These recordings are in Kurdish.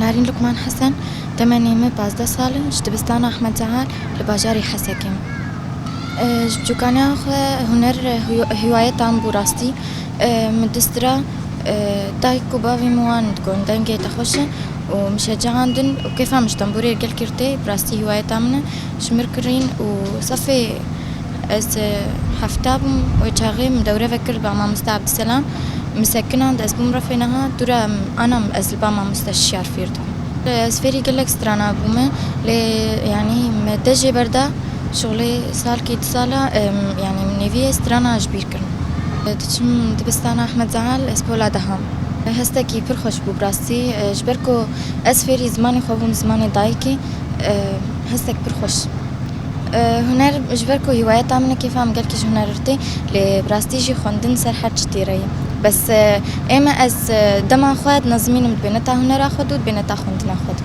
Narîn Lukman Hesen Temenê min pazdeh sal in ji dibistana Ahmed Cehal li bajarê Hesekê me. Ji çokaniya xwe huner hîwayeta min bû rastî. Min distira dayik û bavê min wan digon dengê te xweş e û min şecehandin û kêfa min ji tenbûrê gel girtî. Bi rastî hiwayeta min e ji mir kirîn û safê ez hefta bûm wê çaxê min dewre vekir ba mamoste Abdiselam min sekinand ez bûm refê niha dû re ana min ez li ba mamoste şiyar fêr dibim. Ez fêrî gelek strana bûme lê yanî me te jê berda şixulê salkî du sal e yanî min nêvî ye strana ji bîr. kirin. Diçim dibistana Ahmed Zahal ez pola deham. Hestekî pir xweş bû bi rastî. Ji ber ku ez fêrî zimanê xwe bûm, zimanê dayikê hestek pir xweş. Huner ji ber ku hîwayeta min e kêfa min gelkî ji huner rû tê. Lê bi rastî jî xwendin ser her çi têre ye. Bes ême ez dema xwe dinezimînim dibêne ta hunera xwe dû dibêne ta xwendina xwe dû.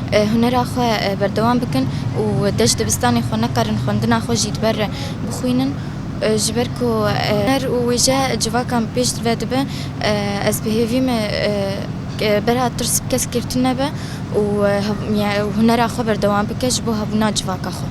hunera xwe berdewam bikin û dê ji dibistanê xwe nekarin xwendina xwe jî li ber re bixwînin ji ber ku huner û wêje civakan pêş ve dibe ez bi hêvî me bera tirs bi kes girtin nebe û hunera xwe berdewam bike ji bo hebûna civaka xwe.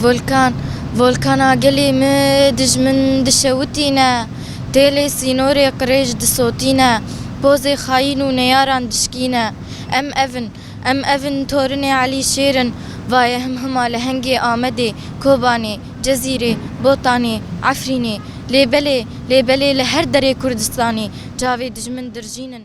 Volkan, Volkana gelê me dijmin dişewitîne, tê lê sînorê qirêj disotîne, pozê xayîn û neyaran dişkîne. Em ev in, Em ev in Torinê Elî Şêr in, vaye him hima lehengê Amedê, Kobanê, Cezîrê, Botanê, Efrînê. Lê belê, lê belê li her derê Kurdistanê çavê dijmin dirjîn in.